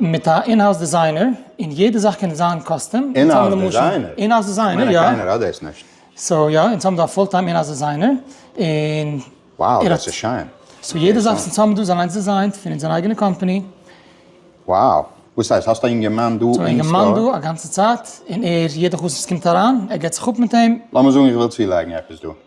מיט א אינהאוז דיזיינער, און יעדע זאך קען דיזיינען קאסטום, אונז האבן למשל, אינהאוז דיזיינער, יא, קיינער האט דאס נישט, סאו יא, אונז האבן דא א פול טיים אינהאוז דיזיינער, און, וואו, דאס איז שיין, סאו יעדע זאך וואס אונז האבן דא איז אליינס דיזיינט פון אונזער אייגענע קאמפאני. וואו, וואס הייסט, האסט א אינגערמאן דא אין סטאר? אינגערמאן דא א גאנצע צייט, און ער, יעדע חתונה וואס קומט אריין, ער געט זיך אפ מיט אים. לאמיר זאגן איך וויל צולייגן עפעס דא.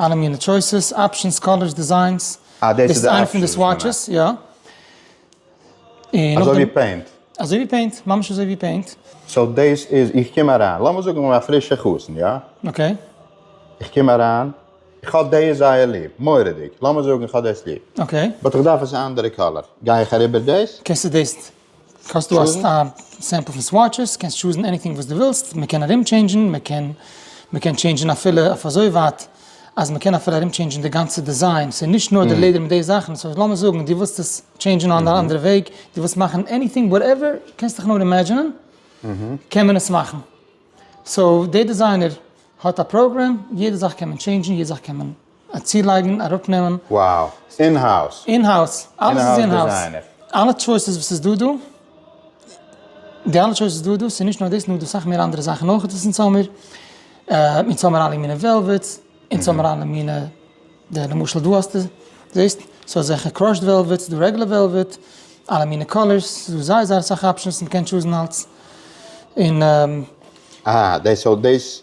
אלע מינע טשויסעס, אפשענס, קאלערס, דיזיינס. אה דאס איז די אפשענס. דאס איז איינע פון די סוואטשעס, יא. אזוי ווי פעינט? אזוי ווי פעינט, ממש אזוי ווי פעינט. סאו דאס איז, איך קום אריין, לאמיר זאגן איך בין א פרישע חתן, יא? אקעי. איך קום אריין, איך האב דאס זייער ליב, מורא'דיג, לאמיר זאגן איך האב דאס ליב. אקעי. באט איך דארף עס א אנדערע קאלער, גיי איך אריבער דאס? קענסטו דאס האסטו א סעמפל פון סוויטשעס, קענסט טשוזן עניטינג וואס דו ווילסט, מען קען ארום טשעינדזשן, מען קען מען קען טשעינדזשן אפילו אויף אזוי ווייט אז מען קען אפילו ארום טשעינדזשן די גאנצע דיזיין, ס'איז נישט נאר די לעדער מיט די זאכן, סאו לאמיר זאגן דו ווילסט עס טשעינדזשן אן א אנדערע וועג, דו ווילסט מאכן עניטינג וואטעווער קענסט דיך נאר אימעדזשענען, קען מען עס מאכן. סאו דער דיזיינער האט א פראגרעם, יעדע זאך קען מען טשעינדזשן, יעדע זאך קען מען צולייגן, אראפנעמען. Wow! אין האוז! אין האוז! אלעס איז אין האוז! אלע טשויסעס וואס איז דא דא, די אלע טשויסעס דא דא, ס'נישט נאר דאס נאר דא סאך מער אנדערע זאכן אויך וואס אונז האמיר, אונז האמיר אלע מיני וועלוועטס, אונז האמיר אלע מיני, די למשל דא האסטו, זעהסט? ס'האט אזעלכע קראשד וועלוועטס, דא רעגולער וועלוועט, אלע מיני קאלערס, ס'איז דא זייער זייער אסאך אפשענס, מ'קען טשוזן אלץ, און. אה, דאס האט דאס.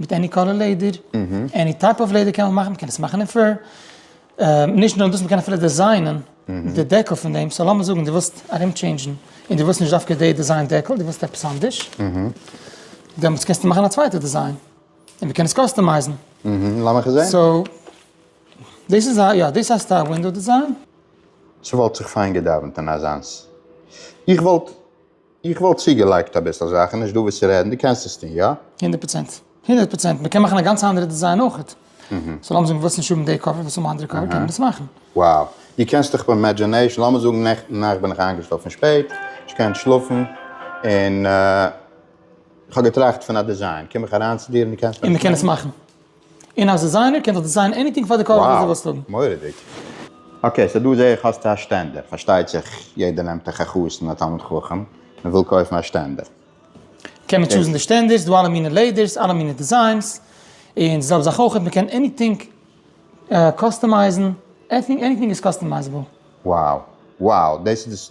מיט עני קאלער לעדער, עני טייפ אוו לעדער קען מען מאכן, מ'קען עס מאכן אין פור, נישט נאר דאס מ'קען אפילו דעזיינען די דעקל פון דעם, סאו לאמיר זאגן דו ווילסט ארום טשעינדזשן און דו ווילסט נישט דווקא די דעזיין דעקל, דו ווילסט עפעס אנדערש, דעמאלטס קענסטו מאכן א צווייטע דעזיין, און מ'קען עס קאסטומייזן. לאמיך עס זעהן. סאו, דאס איז א, יא, דאס הייסט א ווינדאו דעזיין. ס'וואלט זיך פיין געדאווענט אין אזאנס. איך וואלט איך וואלט צוגעלייגט אביסל זאכן, נישט דא וואס צו רעדן, דו קענסט עס טון, יא? הונדערט פראצענט. הונדערט פראצענט. מען קען מאכן א גאנצע אנדערע דיזיין אויכעט. סאו לאמיר זאגן דו ווילסט נישט האבן די קאווער, ווילסט האבן א אנדערע קאווער, קען מען דאס מאכן. Wow. דו קענסט דיך ביים אימעדזשינעישן, לאמיר זאגן נעכטן נאכט בין איך איינגעשלאפן פון שפעט, נישט געקענט שלאפן, און איך האב געטראכט פון א דיזיין, קום איך אריין צו דיר און דו קענסט מיר עס מאכן? און מען קען עס מאכן. און אז דיזיינער קען זיך דיזיינען עניטינג פאר די קאלער וואס דו ווילסט האבן. Wow! מורא'דיג. אקעי, סאו דא זעה איך האסטו א שטענדער. פארשטייט זיך יעדער נעמט א ח חתן א תלמיד חכם און וויל קויפן א שטענדער. קען מען טשוזן די שטענדערס, ס'דא אלע מיני לעדערס, אלע מיני דיזיינס. און די זעלבע זאך אויך, מ'קען עניטינג קאסטומייזן, עניטינג איז קאסטומייזעבל. Wow! Wow! דאס איז דאס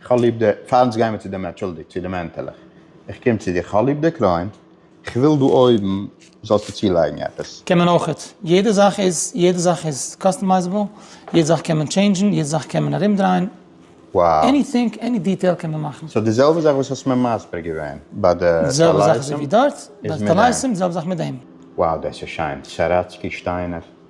איך האב ליב די, פארנט גיימער צו דעם אנטשולדיגט צו די מענטעלעך, איך קום צו דיר, איך האב ליב די קרוין, איך וויל דא אויבן זאלסטו צולייגן עפעס. קען מען אויכעט. יעדע זאך איז, יעדע זאך איז קאסטומייזעבל, יעדע זאך קען מען טשעינדזשן, יעדע זאך קען מען ארומדרייען, עניטינג, עני דיטעיל קען מען מאכן. סאו די זעלבע זאך וואס האסט מיר מסביר געווען ביי די טלייסים? די זעלבע זאך אזויווי דארט, ביי די טלייסים, די זעלבע זאך מיט דעם. Wow דעס איז שיין, סאראצקי שטיינער.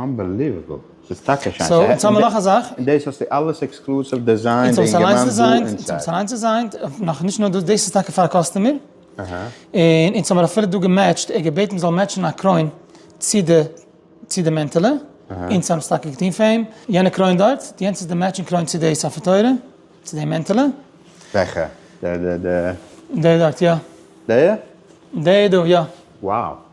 אנבעליוועבל, ס'איז טאקע שיין. סאו יעצט האמער נאך א זאך. און דאס האסטו אלעס עקסקלוסיוו דיזיינט און געמאכט דא אינזייד. אונז האבן עס אליינס דיזיינט, נאך נישט נאר דאס, דאס איז טאקע פאר א קאסטומער. און אונז האמער אפילו דא געמעטשט, ער געבעטן מ'זאל מעטשן א קרוין צו די צו די מענטעלע, אונז האבן עס טאקע געטון פאר אים, יענע קרוין דארט, יענץ איז די מעטשינג קרוין צו די ספר תורה, צו די מענטעלע. וועכע? די די די. די דארט יא. די? די דא יא. וואו.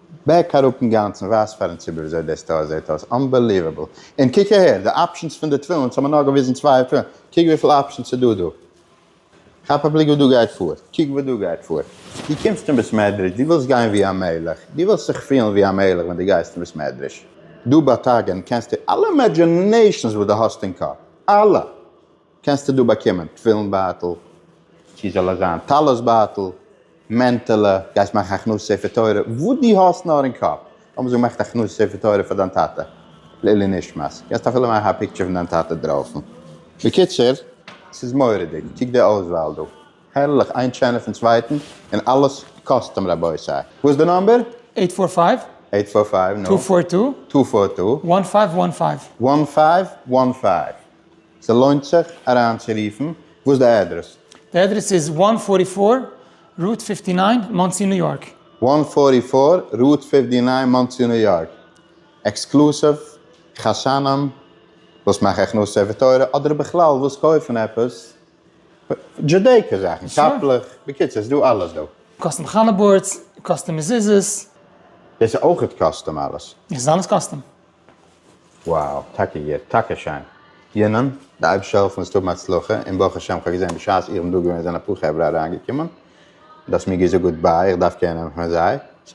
בעק אראפ אינגאנצן ווייז פארן ציבור וויאזוי די סטאר זעט אויס, אנבעליוועבל! און קוק אהער, די אפשענס פון די תפילין, אונז האמיר נאר געוויזן צוויי תפילין, קוק וויפיל אפשענס ס'איז דא דא! כאפ א בליק וואס דא גייט פאר, קוק וואס דא גייט פאר! דו קומסט אין בית מדרש, דו ווילסט גיין ווי א מלך, דו ווילסט זיך פילן ווי א מלך ווען דו גייסט אין בית מדרש, דא באטאגען קענסטו אלע אימעדזשינעישאנס וואס דו האסט אין קאפ, אלע! קענסטו דא באקומען תפילין בייטל, צו זאל עס זיין טלית בייטל, מענטעלע, גייסט מאכן הכנסת ספר תורה, וואס דו האסט נאר אין קאפ, לאמיר זאגן מאכט הכנסת ספר תורה פאר דיין טאטע לעילוי נשמת, קענסט אפילו מאכן א פיקטשער פון דיין טאטע דרויסן, בקיצור ס'איז מורא'דיג, קוק די אויסוואל דא, הערליך, איין שענער פון צווייטן, און אלעס קאסטום רבותי, וואס איז די נאמבער? עיט פאר פייוו. עיט פאר פייוו, נו. טו פאר טו. טו פאר טו. וואן פייוו וואן פייוו. וואן פייוו וואן פייוו. ס'לוינט זיך אריינצורופן. וואס די אדרעס? די אדרעס איז וואן פארטי פאר רוט פיפטי ניין, מאנסי ניו יארק. וואן פארטי פאר רוט פיפטי ניין, מאנסי ניו יארק. עקסקלוסיוו, חתנים וואס מאכן הכנסת ספר תורה, אדער בכלל וואס קויפן עפעס דזשודעיקא זאכן, קאפלעך, בקיצור ס'איז דא אלעס דא. קאסטום חלה בארדס, קאסטום מזוזות. דאס איז אויכעט קאסטום אלעס? עס איז אלעס קאסטום. Wow טאקע גוט טאקע שיין. יוננ, די אייבערשטער העלפן אונז צו האבן הצלחה, און ברוך השם כ'האב געזען בשעת איך בין דא געווען זענען אפאר חברה אריינגעקומען, דו האסט מיר געזאגט גוט ביי, איך דארף קענען פון זיי,